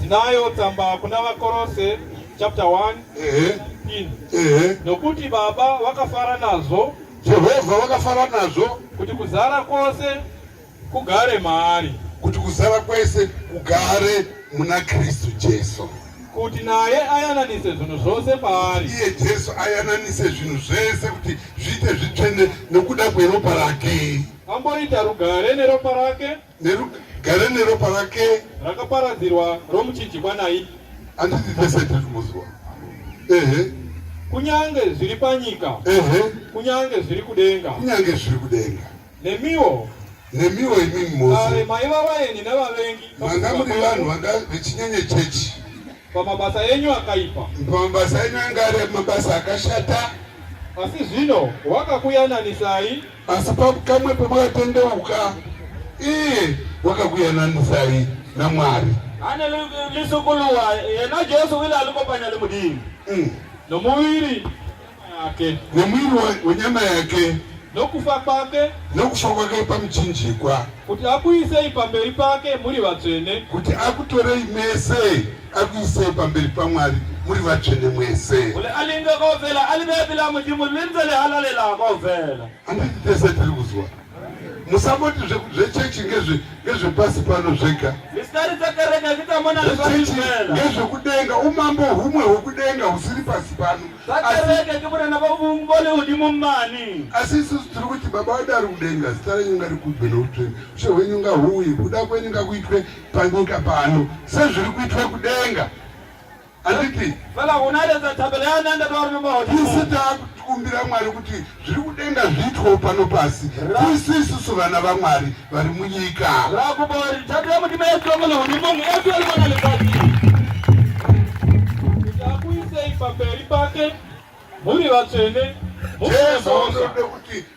Tinayo tsamba kuna vakorose chapter 1 nokuti baba vakafara nazvo Jehovha vakafara nazvo kuti kuzara kwose kugare maari kuti kuzara kwese kugare muna Kristu Jesu kuti naye ayananise zvinhu zvose paari iye Jesu ayananise zvinhu zvese kuti zviite zvitsvene nokuda kweropa rake amboita rugare neropa rake Gare neropa rake rakaparadzirwa romuchinjikwa naye. Handiti tese tiri kumuziwa. Ehe. Kunyange zviri panyika. Ehe. Kunyange zviri kudenga. Kunyange zviri kudenga. Nemiwo nemiwo imimi mose maiva vaeni nevavengi manga muri vanhu vanga vechinyenye chechi pamabasa enyu akaipa pamabasa enyu anga ari mabasa akashata asi zvino wakakuyananisai Asi pakamwe pamakatendeuka iye wakakuyananisai naMwari. Ane lisukuluwa yena Jesu wile alikopanya limudini mm. nomuviri yake nomuviri wenyama yake nokufa kwake nokufa kwake pamuchinjikwa kuti akuisei pamberi pake muri vatsvene kuti akutorei mese akuisei pamberi pamwari muri vatsvene mwese handiti tese tiri kuzwa musangoti zvechechi ngezvepasi pano zvega ngezvekudenga umambo humwe hwekudenga husiri pasi pano asi isusu tiri kuti baba wadari kudenga zita renyu ngarikudwe noutsvene ushe hwenyu ngahuuye kuda kwenyu ngakuitwe panyika pano sezviri kuitwa kudenga anditi tisu takukumbira mwari kuti zviri kudenga zviitwawo pano pasi tisu isusu vana vamwari vari munyika pamberi pake muri vatsvene jesu unoda kuti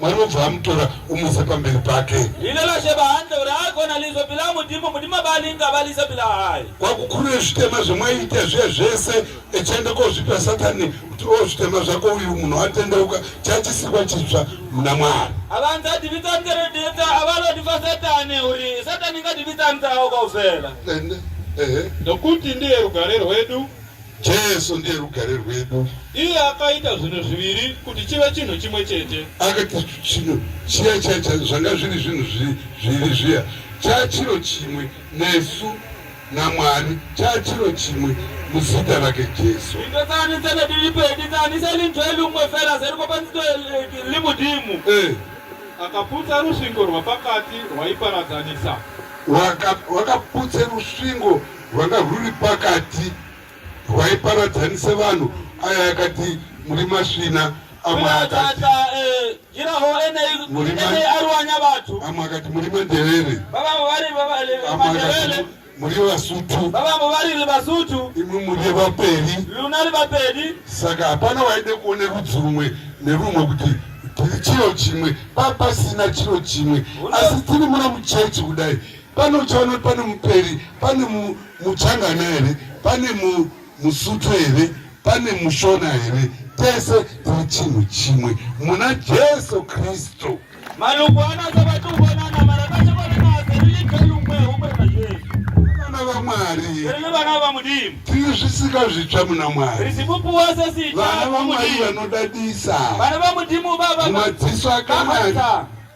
Mwari obva amutora omutsa pamberi pake. Ine lashe bahandle uri agona lizwe bila mudimu mudima balinga balise bila hayi. Kwakukurire zvitema zvemwaiita zviya zvese echienda kozvipa satani kuti o zvitema zvako uyu munhu atendeuka chachisikwa chitsva muna mwari. Abantu adivitsa ntereditsa avalodifa satani uri satani ngadivitsa ntawo kwauvela. Ende ehe. Nokuti ndiye rugare rwedu. Jesu ndiye rugare rwedu. Iye akaita zvinhu zviviri kuti chive chinhu chimwe chete. Akaita chinhu chiya chiya chacho zvanga zviri zvinhu zviviri zviya chaa chiro chimwe nesu naMwari chaa chiro chimwe muzita rake Jesu. Ndikatsanisa nedilipo ndikatsanisa linzwa lumwe fela zeriko panzito limudimu. Eh. Akaputsa rusvingo rwapakati rwaiparadzanisa. Wakaputsa rusvingo rwanga rwuri pakati rwaiparadzanisa vanhu aya akati muri masvina amwe akati eh, amwe akati muri manderere muri vasutu vavambo variri vasutu imwe muri vaperi lunari vaperi saka hapana waide kuone rudzi rumwe nerumwe kuti tiri chiro chimwe papasina chiro chimwe asi tiri muna muchechi kudai Pane uchaona kuti pane muperi, pane muchangana here, pane musuthu here, pane mushona here, tese tiri chinhu chimwe muna Jesu Kristu. Malungu anatsabatikuonana mara kachakonanase riikalumwe humwe naJesu vana vaMwari rini vana vamudimu tiri zvisika zvitsva muna Mwari risipupuwa sesita vana vaMwari vanodadisa vana vamudimu baba madziso akanaka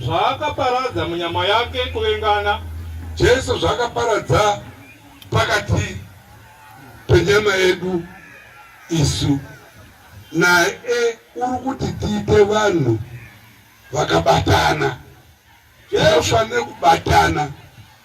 Zvaakaparadza munyama yake kuvengana. Jesu zvaakaparadza pakati penyama yedu isu naye uri kuti tiite vanhu vakabatana. Tinofanira kubatana.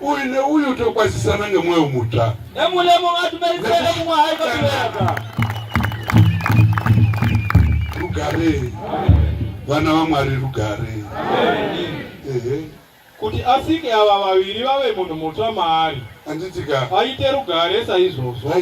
Uyu neuyu tokwazisana ngemwoyo mutsva. Nemulemo vatu merisele mumwe haiko tiweka. Rugare. Vana vaMwari rugare. Ehe. Kuti asike ava vaviri vave munhu mutsva maari. Anditika. Aite rugare saizvozvo.